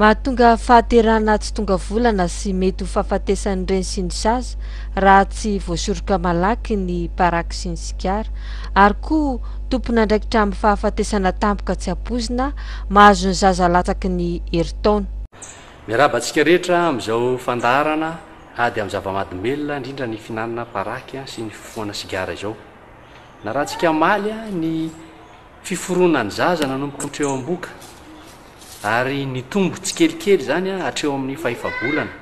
Mahatonga fahaterahana tsy tonga volana sy mety ho fahafatesan'ireny sy ny sasa raha tsy voasoroka malaky ny paraky sy ny sigara ary koa tompon'andraikitra amin'ny fahafatesana tampoka tsy ampoizina mahazo ny zaza latsaky ny herintaona. Miarahaba antsika rehetra amin'izao fandaharana ady amin'ny zava-mahadomelina indrindra ny fihinanana paraky sy ny fifohana sigara izao. Narahantsika omaly ny fiforonan'ny zaza nanomboka hatreo am-bohoka ary nitombo tsikelikely izany hatreo amin'ny fahefa-bolana.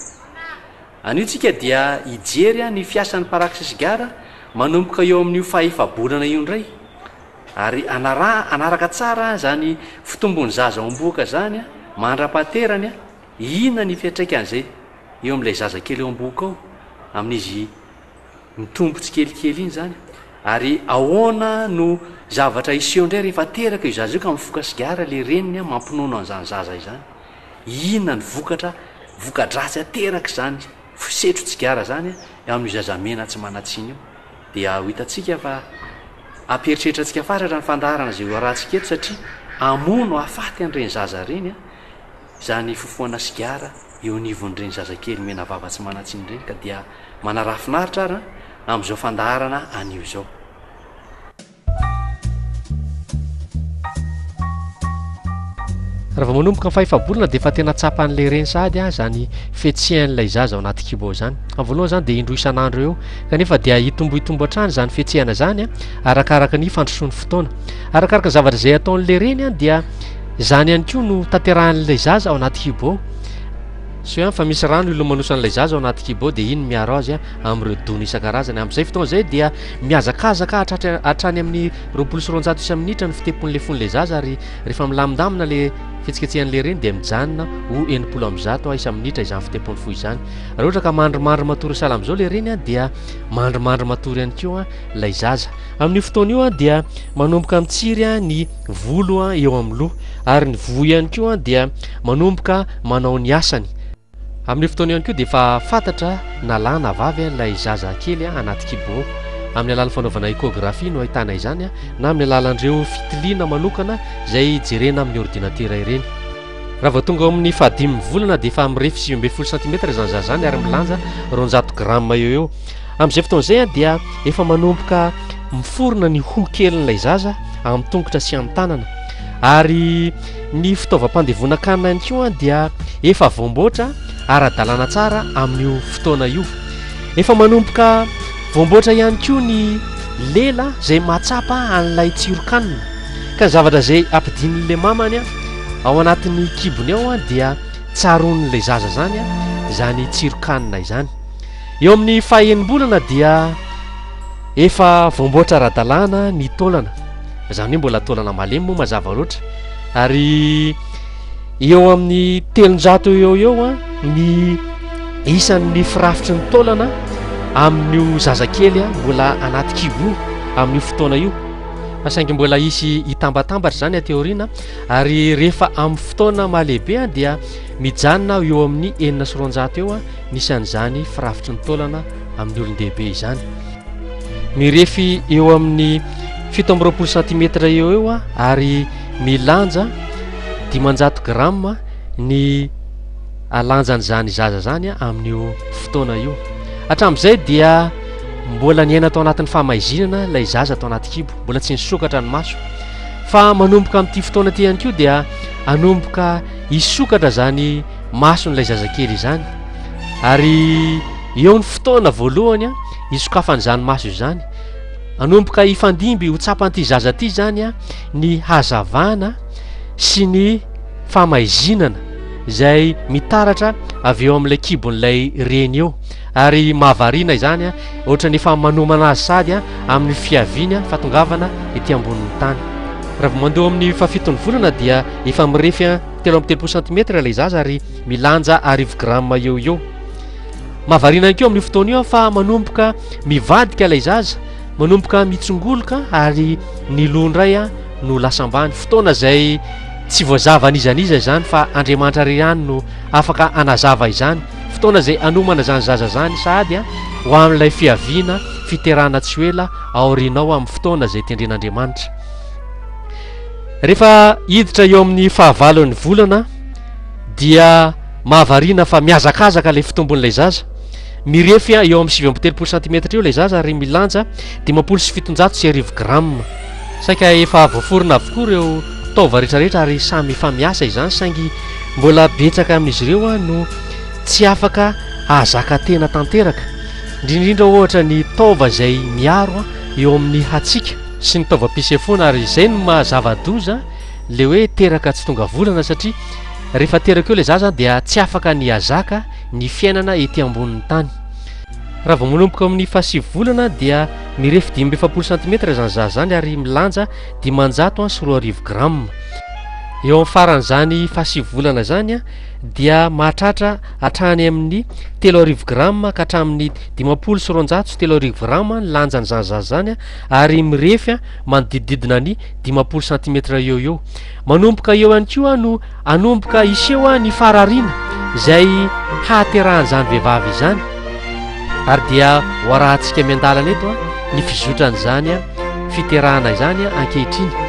Anio tsika dia hijery ny fiasan'ny paraky sy sigara manomboka eo amin'io fahefa-bolana io indray. Ary anaraha anaraka tsara izany fitombon'ny zaza ao am-bohoka izany mandra-pahaterany, inona ny fiantraikan'izay eo amin'ilay zaza kely ao am-bohoka ao, amin'izy mitombo tsikelikely iny izany? Ary ahoana no zavatra hiseho indray rehefa teraka io zaza io ka mifoka sigara ilay reniny mampinono an'izany zaza izany? Inona ny vokatra, voka-dratsy aterak'izany fisetro-tsigara izany eo amin'io zaza mena tsy manan-tsiny io? dia ho hitantsika fa hampieritreritratsika fatratra ny fandaharana izay ho arahantsika eto satria hamono hafaty an'ireny zaza ireny izany fofoana sigara eo anivon'ireny zazakely menavava tsy manan-tsiny ireny ka dia manaraha finaritra ary amin'izao fandaharana anio izao. Raha vao manomboka ny fahefa-bolana dia efa tena tsapan'ilay reny sahady ah izany fihetsehanailay zaza ao anaty kibo ao izany. Amin'ny voalohany izany dia indroa isan'andro eo, kanefa dia hitombohitombo hatrany izany fihetsehana izany an, ah, arakaraka ny fandrosoan'ny fotoana. Arakaraka ny zavatra izay ataon'ilay reny an, ah, dia izany ihany koa no tanterahan'ilay zaza ao anaty kibo ao. Asio ihany fa misy rano ilomanosan'ilay zaza ao anaty kibo ao dia iny miaro azy ah, amin'ireo dona isan-karazany. Amin'izay fotoana izay dia Mihazakazaka hahatratra hatrany amin'ny roapolo sy roanjato isa minitra ny fitepon'ilay fon'ilay zaza ary rehefa milamindamina ilay fihetsiketsehan'ilay reny dia mijanona ho enimpolo amby zato ha isa minitra izany fitepon'ny fo izany. Raha ohatra ka mandrimandry matory sahala amin'izao ilay reny an dia mandrimandry matory ihany koa ilay zaza. Amin'io fotoana io an dia manomboka mitsiry an ny volo an eo amin'ny loha ary ny voa ihany koa an dia manomboka manao ny asany. Amin'io fotoana io ihany koa dia efa fantatra na lahy na vavy ilay zaza kely anaty kibo. Amin'ny alalan'ny fanaovana échographie no ahitana izany na amin'ny alalan'ireo fitiliana manokana izay jerena amin'ny ordinatera ireny. Raha vao tonga ao amin'ny fahadimy volana dia efa mirefy sivy ambin'ny folo sentimetatra izany zaza izany ary milanja roanjato grammes eo eo. Amin'izay fotoana izay dia efa manomboka miforona ny hoho kelin'ilay zaza amin'ny tongotra sy amin'ny tanana ary Ny fitaovam-pandevonan-kanina ihany koa dia efa voamboatra ara-dalàna tsara amin'io fotoana io. Efa manomboka voamboatra ihany koa ny lela izay mahatsapa an'ilay tsiron-kanina. Ka ny zavatra izay ampidian'ilay mamany ao anatin'ny kibony ao dia tsaroan'ilay zaza izany izany tsiron-kanina izany. Eo amin'ny faha-enimbolana dia... Efa voamboatra ara-dalàna ny taolana, izany hoe mbola taolana malemy moa mazava loatra, ary eo amin'ny telonjato eo eo ny isan'ny firafitry ny taolana amin'io zazakely mbola anaty kibo io amin'io fotoana io, fa saingy mbola hisy hitambatambatra izany aty aoriana, ary rehefa amin'ny fotoana maha-lehibe dia mijanona eo amin'ny enina sy roanjato eo Nisan'izany firafitry ny taolana amin'ny olon-dehibe izany. Mirefy eo amin'ny fito amby roapolo santimetatra eo eo ary milanja dimanjato grama ny lanjan'izany zaza izany amin'io fotoana io. Hatramin'izay dia mbola niaina tao anatin'ny famaizinana ilay zaza tao anaty kibo, mbola tsy nisokatra ny maso. Fa manomboka amin'ity fotoana ity ihany koa dia hanomboka hisokatra izany mason'ilay zazakely izany ary eo ny fotoana voalohany a isokafany izany maso izany anomboka hifandimby ho tsapan'ity zaza ity izany a ny hazavana sy ny famaizinana izay mitaratra avy eo amin'ilay kibon'ilay reny eo ary mahavariana izany a ohatra ny efa manomana azy sady a amin'ny fiaviana fatongavana ety ambonin'ny tany raha vao mandeha amin'ny fahafiton'ny volana dia efa mirefy a Telo amby telopolo santimetatra ilay zaza ary milanja arivo grama eo eo. Mahavariana ihany koa amin'io fotoana io fa manomboka mivadika ilay zaza, manomboka mitsongoloka ary ny loha indray no lasa ambany. Fotoana izay tsy voazava an'iza an'iza izany fa Andriamanitra irery ihany no afaka hanazava izany. Fotoana izay hanomana izany zaza izany sahady ho amin'ilay fiaviana, fiterahana tsy ho ela aorianao amin'ny fotoana izay tendren'Andriamanitra. Rehefa hiditra eo amin'ny fahavalon'ny volana dia mahavariana fa mihazakazaka ilay fitombon'ilay zaza. Mirefy eo amin'ny sivy amby telopolo santimetatra eo ilay zaza ary milanja dimampolo sy fitonjato sy arivo grama. Saika efa voaforona avokoa ireo taova rehetrarehetra ary samy efa miasa izany saingy mbola betsaka amin'izy ireo no tsy afaka hahazaka tena tanteraka, indrindra indrindra ohatra ny taova izay miaro eo amin'ny hatsiaka. sy ny taovam-pisefoana ary izay no maha zava-doza le hoe teraka tsy tonga volana satria rehefa teraka eo le za zany dia tsy afaka ny hazaka ny fiainana ety ambonin'ny tany raha vao manomboka amin'ny fahasivy volana dia mirefy dimy mbefapolo santimetatra izany za zany ary milanja dimanjato an sy roa arivo gramme eo amin'ny faran'izany fahasivy volana zany an dia mahatratra hatrany amin'ny telo arivo gramme ka hatramin'ny dimampolo sy roanjato sy telo arivo gramme ny lanjan'izany za zany an ary mirefy manodidididina ny dimampolo santimetatra eo eo manomboka eo ihany koa no anomboka hiseho ny farariana izay hahaterahan'izany vehivavy izany ary dia ho arahantsika miandalana eto ny fizotran'izany fiterahana izany ankehitriny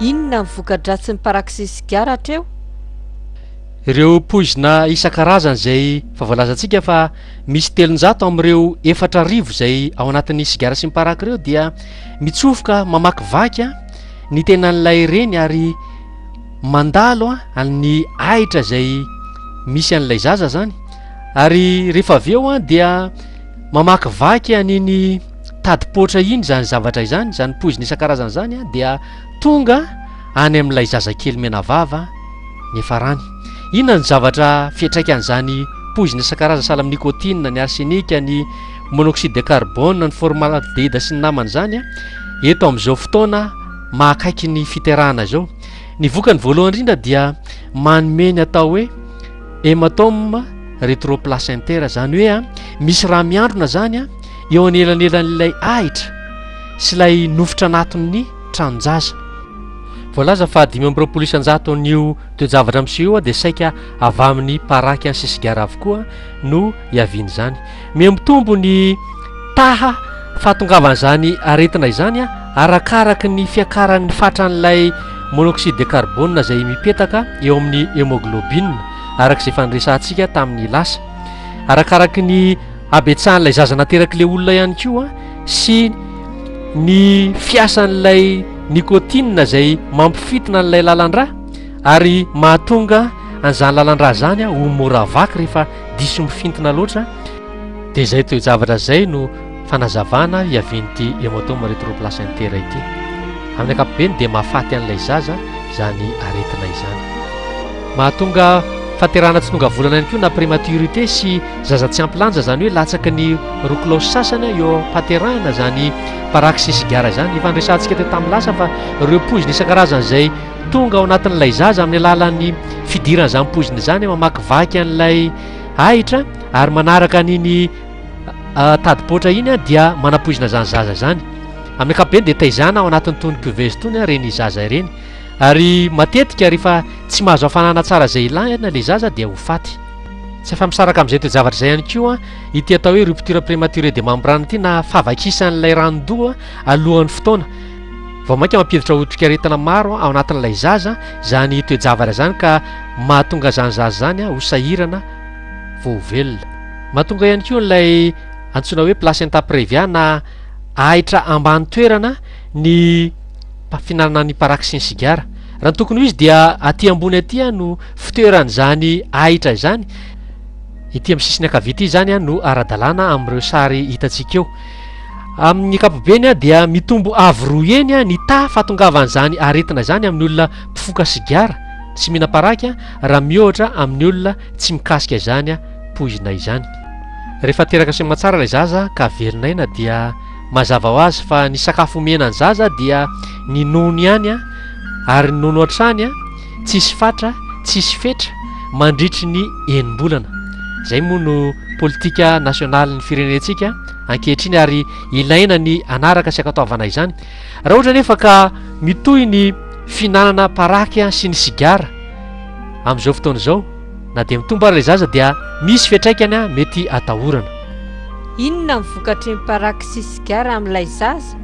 Inona ny voka-dratsin'ny parak'izay sigara hatreo? Ireo poizina isan-karazany izay efa voalazantsika fa misy telonjato amin'ireo efatra arivo izay ao anatin'ny sigara sy ny paraky ireo dia mitsofoka mamakivaky ny tenan'ilay reny ary mandalo an'ny ahitra izay misy an'ilay zaza zany ary rehefa avy eo an dia mamakivaky an'iny tadipoatra iny zany zavatra izany zany poizina isan-karazana zany an dia tonga any amin'ilay zazakely menavava ny efa rany inona ny zavatra fiatraikan'izany poizina isan-karazana sahala amin'ny nikotina ny arsenika ny monoxyde de carbone, ny formaldehyde sy ny namany izany a, eto amin'izao fotoana mahakaiky ny fiterahana izao. Ny vokany voalohany indrindra dia manome ny atao hoe hematome retroplacentaire, izany hoe a misy raha miandrona izany a eo anelanelan'ilay ahitra sy ilay nofotra anatin'ny tranon-jaza. Voalaza fa dimy amby roapolo isan-jato an'io toe-javatra miseho io dia saika avy amin'ny paraky sy sigara avokoa no iavian'izany. Mihamitombo ny taha fahatongavan'izany aretina izany arakaraky ny fiakaran'ny fatran'ilay monoxyde de carbone izay mipetaka eo amin'ny hemoglobine araka izay efa niresahantsika tamin'ny lasa. Arakaraky ny habetsahan'ilay zaza naterak'ilay olona ihany koa sy ny fiasan'ilay nicotine izay mampifintina an'ilay lalandrà ary mahatonga an'izany lalandrà izany ho mora vaky rehefa diso mifintina loatra dia izay toe-javatra izay no fanazavana hiavian'ity hématome rétroplacentaire ity amin'ny ankapobeny dia mahafaty an'ilay zaza izany aretina izany mahatonga faterana tsy tonga volana ihany koa na prématurité sy zaza tsy ampy lanja izany hoe latsaka ny roa kilaosy sasany eo am-pahaterahana izany paraxysgara izany efa niresahantsika teo tamin'ny lasa fa ireo poizina isan-karazany izay Tonga ao anatin'ilay zaza amin'ny alalan'ny fidirana izany poizina izany, mamakivaky an'ilay ahitra ary manaraka an'iny tadi-poatra iny dia manapoizina izany zaza izany. Amin'ny ankapobeny dia taizana ao anatin'itony cuveuse itony ireny zaza ireny. Ary matetika rehefa tsy mahazo hafanana tsara izay ilana ilay zaza dia ho faty. Tsy afa-misaraka amin'izay toe-javatra izay ihany koa ity atao hoe rupture prématurée de membrane ity na fahavakisan'ilay ranon-doha alohan'ny fotoana. Vao mainka mampiditra otrikaretina maro ao anatin'ilay zaza izany toe-javatra izany ka mahatonga izany zaza izany ho sahirana vao ho velona. Mahatonga ihany koa an'ilay antsoina hoe placenta previa na ahitra ambany toerana ny fihinanana ny paraky sy ny sigara. Raha ny tokony ho izy dia aty ambony aty no fitoeran'izany ahitra izany. Ity amin'ny sisiny ankavia ity izany no ara-dalàna amin'ireo sary hitantsika eo. Amin'ny ankapobeny dia mitombo avo roa heny ny taha fahatongavan'izany aretina izany amin'ny olona mpifoka sigara sy mihina-paraky raha miohatra amin'ny olona tsy mikasika izany poizina izany. Rehefa teraka sy aman-tsara ilay zaza ka velona aina dia mazava ho azy fa ny sakafo omena ny zaza dia ny nono ihany ary ny nono hatrany tsisy fatra, tsisy fetra mandritry ny enim-bolana. Izay moa no politika nasionalin'ny firenentsika ankehitriny ary ilaina ny hanaraka sy hankatoavana izany. Raha ohatra anefa ka mitohy ny fihinanana paraky sy ny sigara amin'izao fotoana izao na dia mitombo ary ilay zaza dia misy fiantraikany mety atahorana. Inona ny vokatry ny paraky sy sigara amin'ilay zaza?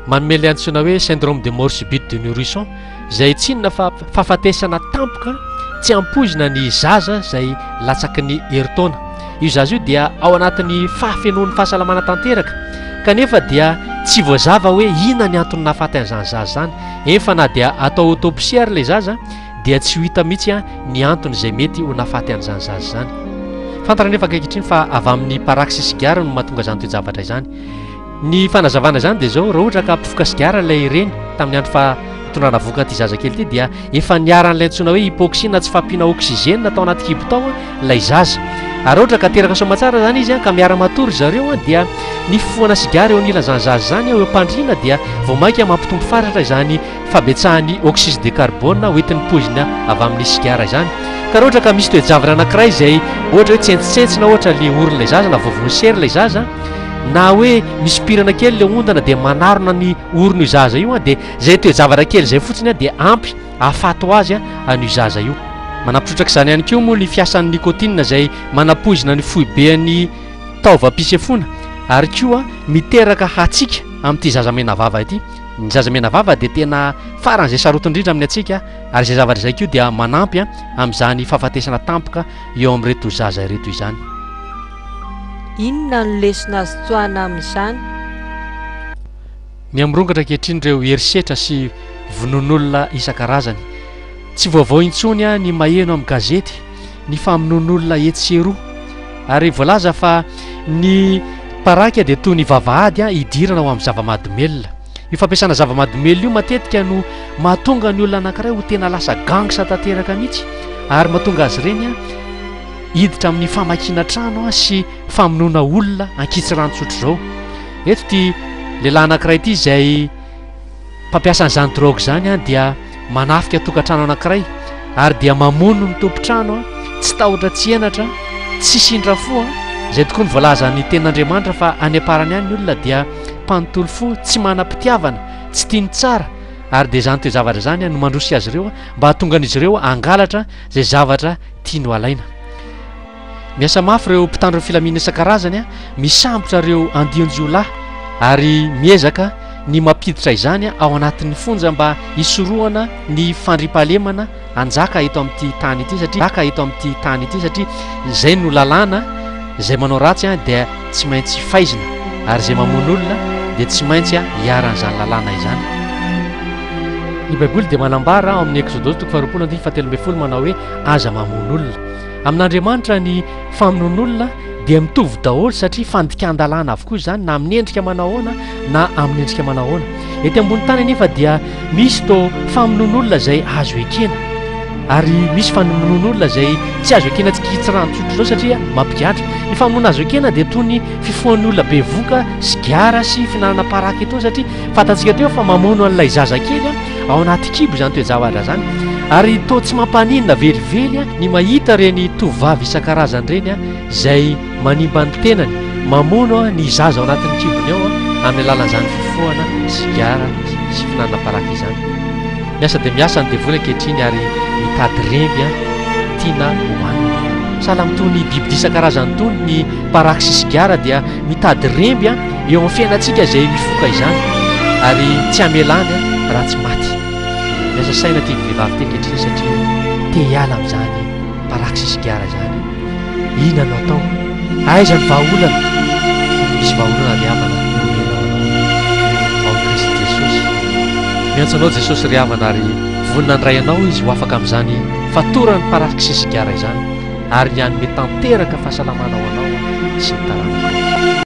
Manome ilay antsoina hoe syndrome de mort subite de nourrisson izay tsy inona fa fahafatesana tampoka tsy ampoizina ny zaza izay latsaky ny herintaona. Io zaza io dia ao anatin'ny fahafenoan'ny fahasalamana tanteraka kanefa dia tsy voazava hoe inona ny antony nahafaty an'izany zaza izany. Eny fa na dia atao autopsie ary ilay zaza dia tsy ho hita mihitsy ny antony izay mety ho nahafaty an'izany zaza izany. Fantatra anefa ankehitriny fa avy amin'ny paraky sy sigara no mahatonga izany toe-javatra izany. Ny fanazavana izany dia izao, raha ohatra ka mpifoka sigara ilay reny tamin'ny andro fa itondrana vohoka an'ity zazakely ity dia efa niharan'ilay antsoina hoe hypoxie na tsy fampiana oxygène tao anaty kibo tao ilay zaza. Ary raha ohatra ka teraka soamatsara izany izy ka miara-matory zareo dia ny fifohana sigara eo anilan'izany zaza izany eo am-pandriana dia vao mainka mampitombo fatratra izany fabetsahan'ny oxyse de carbone hoentin'ny poizina avy amin'ny sigara izany ka raha ohatra ka misy toe-javatra anankiray izay ohatra hoe tsentsintsina ohatra ilay orin'ilay zaza na voavoan'ny sery ilay zaza na hoe misompirana kely ilay ondana dia manarona ny orina io zaza io dia izay toe-javatra kely izay fotsiny dia ampy ahafaty ho azy an'io zaza io manampitrotraka izany ihany koa moa ny fiasan'ny nicotine izay manapoizina ny foiben'ny taovam-pisefoana ary koa miteraka hatsiaka amin'ity zaza menavava ity Ny zaza menavava dia tena faran'izay sarotiny indrindra amin'ny antsika ary izay zavatra izay koa dia manampy amin'izany fahafatesana tampoka eo amin'ireto zaza ireto izany. Inona no lesona azo tsoahina amin'izany? Miha-mirongatra ankehitriny ireo herisetra sy vonoan'olona isan-karazany. Tsy vaovao intsony ny maheno amin'ny gazety. ny famonoan'olona etsy sy eroa ary voalaza fa ny paraky dia toy ny vavahady an hidirana ao amin'ny zava-mahadomelina io fampiasana zava-mahadomelina io matetika no mahatonga ny olona anankiray ho tena lasa gangsa tanteraka mihitsy ary mahatonga azy ireny an hiditra amin'ny famakiana trano an sy famonoana olona ankitsirano tsotra izao eto ity lehilahy anankiray ity izay Mpampiasa an'izany drogue izany dia manafika tokantrano anankiray ary dia mamono ny tompon-trano tsy tahotra tsy henatra, tsy sindra fo an! izay tokoa ny voalazan'ny tenin'Andriamanitra fa any am-parany any ny olona dia mpanontolo fo, tsy manam-pitiavana, tsy tia ny tsara ary dia izany toe-javatra izany no mandroso azy ireo mba hahatonga an'izy ireo hangalatra izay zavatra tiany ho alaina. Miasa mafy ireo mpitandro ny filaminana isan-karazany misambotra ireo andian-jiolahy ary miezaka ny mampiditra izany ao anatin'ny fonja mba hisorohana ny fandriampahalemana hanjaka eto amin'ity tany ity satria haka eto amin'ity tany ity satria izay no lalàna izay manao ratsy dia tsy maintsy faizina ary izay mamono olona dia tsy maintsy hiaran'izany lalàna izany. Ny Baiboly dia manambara ao amin'ny Eksodosy toko faharoapolo andininy fahatelo ambin'ny folo manao hoe aza mamono olona. Amin'Andriamanitra ny famonoan'olona dia mitovy daholo satria fandikan-dalàna avokoa izany na amin'ny endrika manao ahoana na amin'ny endrika manao ahoana. Ety ambony tany anefa dia misy to famonoan'olona izay azo ekena ary misy famonoan'olona izay tsy azo ekena tsy kitsirano tsotra izao satria mampigadra. Ny famonoana azo ekena dia toy ny fifohan'ny olona bevoka, sigara sy fihinanana paraka itony satria Fantantsika teo fa mamono an'ilay zazakely ao anaty kibo izany toe-javatra izany ary toa tsy mampaninona velively ny mahita ireny tovovavy isan-karazany ireny izay manimba ny tenany mamono ny zaza ao anatin'ny kibony ao amin'ny alalan'izany fifohana sigara sy fihinanana paraky izany. Miasa dia miasa ny devoly ankehitriny ary mitady remby tiana hohanina. Sahala amin'itony biby isan-karazany itony ny paraky sy sigara dia mitady remby Eo amin'ny fiainantsika izay mifoka izany ary tsy hamelany raha tsy maty. Miasa saina ity vehivavy ity ankehitriny satria te hiala amin'izany praxis sigara izany. Inona no atao? Aiza ny vahaolana? Misy vahaolana ry havana omenao anao. Ao Kristy Jesosy. Miantso anao Jesosy ry havana ary vonona handray anao Izy ho afaka amin'izany fatoran'ny praxis sigara izany ary ny hanome tanteraka fahasalamana ho anao sy ny taranakao.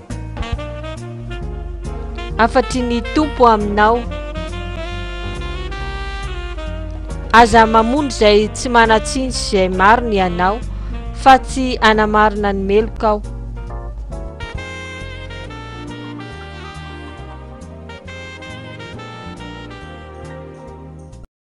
Hafatry ny Tompo aminao. Aza mamono izay tsy manan-tsiny sy izay marina ianao, fa tsy hanamarina ny meloka aho.